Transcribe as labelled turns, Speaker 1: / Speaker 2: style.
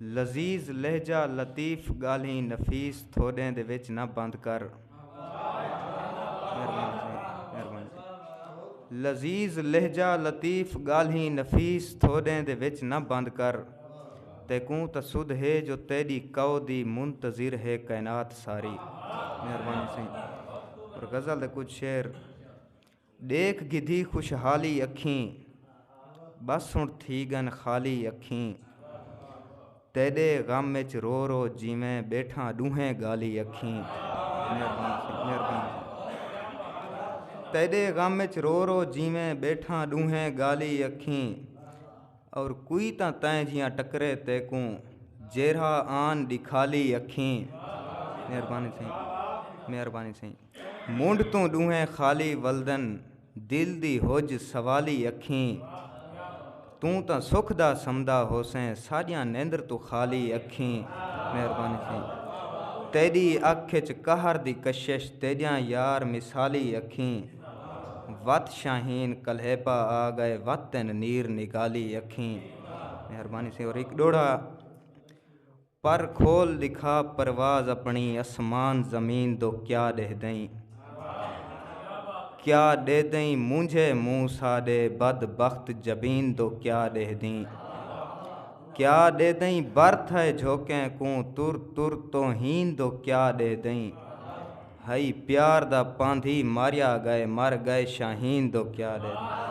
Speaker 1: لذیذ لہجہ لطیف گالھیں نفیس تھوڈیں دے وچ نہ بند کر لذیذ لہجہ لطیف گالھیں نفیس تھوڈیں دے وچ نہ بند کر تیکوں تاں سدھ ہے جو تیڈی کاؤ دی منتظر ہے کائنات ساری مہربانی سئیں اور غزل دے کچھ شعر ݙیکھ گھدی خوشحالی اکھیں ٻس ہݨ تھی ڳن خالی اکھیں تیݙے غم اچ رو رو جیویں ٻیٹھاں ݙونہیں ڳالی اکھیں تیݙے غم اچ رو رو جیویں ٻیٹھاں ݙونہیں ڳالی اکھیں اور کوئی تاں تیں جیاں ٹکرے تیکوں جیرھا آن ݙکھالی اکھیں مہربانی سئیں مہربانی سئیں منڈھ توں ڈوہیں خالی ولدن دل دی ہج سوالی اکھیں توں تاں سکھ دا سمدا ہوسیں ساڈیاں نیندر توں خالی اکھیں مہربانی سئیں تیڈی اکھ اچ قہر دی کشش تیڈیاں یار مثالی اکھیں وت شاہین کلیپا آ گئے وت تین نیر نگالی اکھیں مہربانی سئیں اور ایک ڈوڑا پر کھول ݙکھا پرواز اپݨی اسمان زمین دو کیا ݙیہدئیں کیا ݙیہدئیں مونجھے مونہہ ساݙے بد بخت جبین دو کیا ݙیہدئیں کیا ݙیہدئیں بر تھئے جھوکیں کوں تر تر توہین دو کیا ݙیہدئیں ہئی پیار دا پاندھی ماریا ڳئے مر ڳئے شاہین دو کیا ݙیہدئیں۔